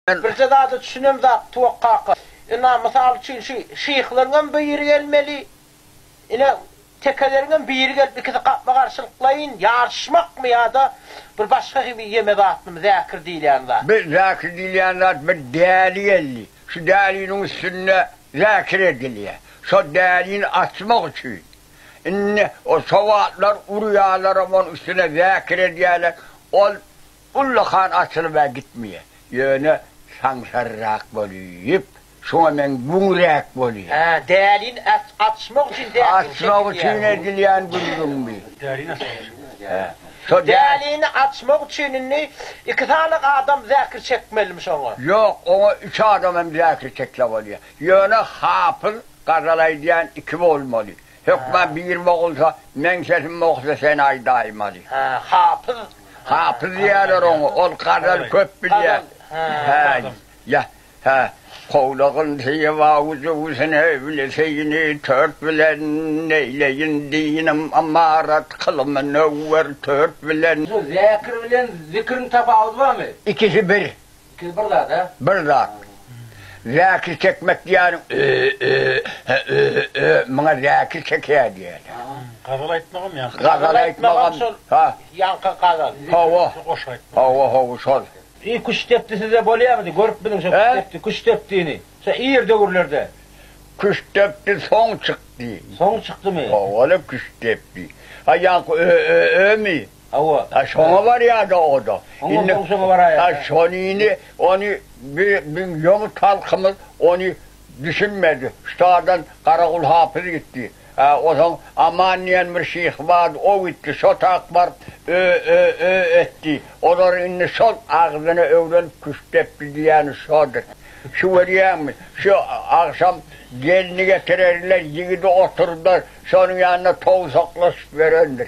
Men birje zada düşünen zat Tuwak kaka. Ina, mysal üçin şu şyhlaryňam biri gelmeli. Ine, tekeleriňem biri gelip ikisi gapma-garşylyklaýyn ýaryşmakmy ýa-da bir başga gibi ýeme zatymy Zäkir diýilýän zat? Bu Zäkir diýilýän zat bir däli geldi. Şu däliniň üstünde Zäkir edilýär. Şol dälini açmak üçin. Indi o sowatlar urýarlaram onuň üstüne Zäkir edýärler. Ol. Ullakan açylyp-ä gitmeýär. Ýöne saňsarrak bolýup, şuňa meň güňräk bolýa. Hä, dälini açmak üçin däkgin çekilýär. Açmak üçin edilýän gürrüň bi. Dälini açmak üçin. Hä. Şo dälini açmak üçin indi iki sany adam zäkir çekmelimiş oňa. Ýok, oňa üç adam hem zäkir çekse bolýa. Ýöne hapyz gazal aýdýan iki bolmaly. Hökman bir bogulsa, meň sesim bogsa sen aýdaýym aly. Hä, hapyz. Hapyz diýýärler oňa, ol gazal köp bilýär. Hä, ýa, hä. Kowlagyn syýaba uzuwsyn evli syýny tört bilen, neýleýin dinim ymarat kyly münewwer tört bilen. Şu zekir bilen zikriň tapawudy barmy? Ikisi bir. Siz bir zat a. Bir zat. Zäkir çekmek diýýäniň ö-ö-hä ö-ö muňa zäkir çekeýär diýýäler. Gazal aýtmagam ýaňky. Gazal aýtmagam şol ýaňky gazal. Hawa. Goşgy aýtmak. Hawa hawa şol. Iý küşt depdi sizde bolýamydy görüp biziň şo küşt depdi küşt depdini şo ir döwürlerde. Küşt depdi soň çykdy. Soň çykdymy? Howala küşt depdi. Ha ýaňky ö-ö-ömi? Hawa. A şoňa barýa-da o-da. Oňa soň şoňa baraýa. A şonyny, ony bi, biziň ýomut halkymyz ony düşünmedi. Ştadan Garagul hapyz gitdi. A osaň Aman diýen bir şyh bardy, o gitdi. Şo tak baryp ö, ö, ö etdi. Olar indi şol agzyna öwrenip küşt depdi diýýäni şodur. Şu görýäňmi, şu agşam gelni getirerler, ýigidi oturdar, şonuň ýanynda towsaklaşyp ýörendir.